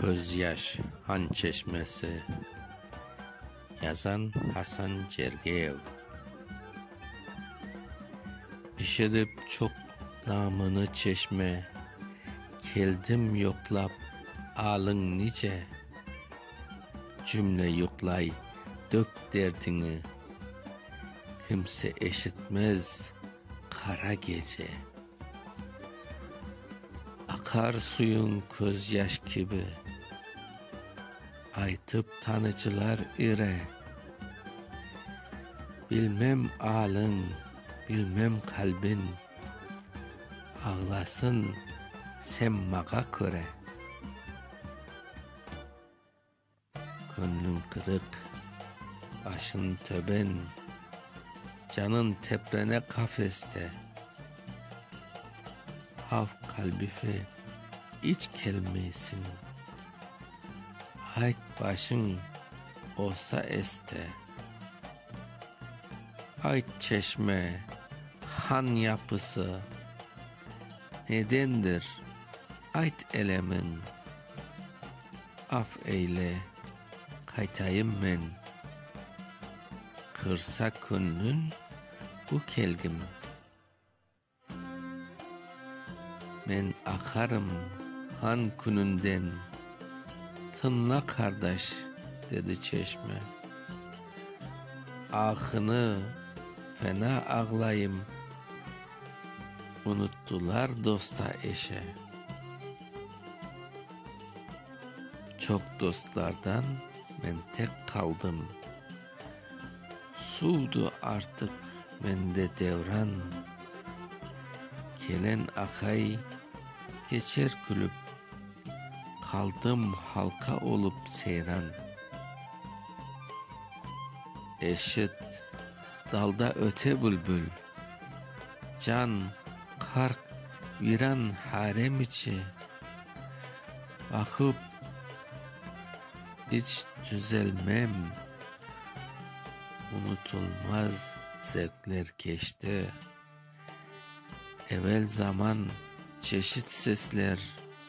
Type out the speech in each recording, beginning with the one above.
Közyaş han çeşmesi. Yazan, Hasan Cergeyev. Eşidip çoq namını çeşme, Keldim yoqlap, alıñ nice? Cümle yuqlay, dök derdiñi, Kimse eşitmez qara gece. Aqar suyuñ közyaş kibi, Aytıp tanıcılar ire. Bilmem aliñ, bilmem qalbiñ, Ağlasın semmağa köre. Köñlüñ qızıq, başıñ töben, Canıñ teplene qafeste. Halq qalbife iç kelmeysiñ, Ayt, başıñ olsa este. Ayt, çeşme, han yapısı, Nedendir, ayt elemiñ, Af eyle, qaytayım men. Qırsa köñlün bu kelgim. Men aqarım han küñünden. Tıñla, qardaş, dedi çeşme. Ahını fena ağlayım. Unuttılar dosta-eşe. Çoq dostlardan men tek qaldım. Suvdı artıq mende devran. Kelen aqay keçer külüp. Qaldım halqa olup seyran. Eşit, dalda öte bülbül. Can, qarq, viran harem içi, Aqıp, iç tüzelmem, Unutulmaz zevqler keçti. Evel zaman, çeşit sesler.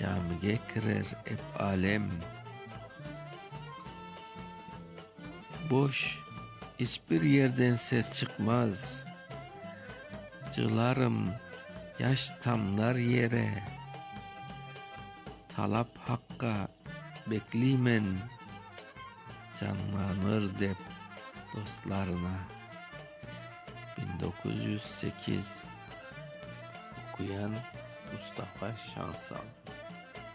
Camige kirer ep alem. Boş, içbir yerden ses çıqmaz. Cığlarım yaş tamnar yere. Talap haqqa bekliymen, canlanır dep dostlarına. Biñ doquz yüz sekiz. Oquyan, Mustafa Şansal.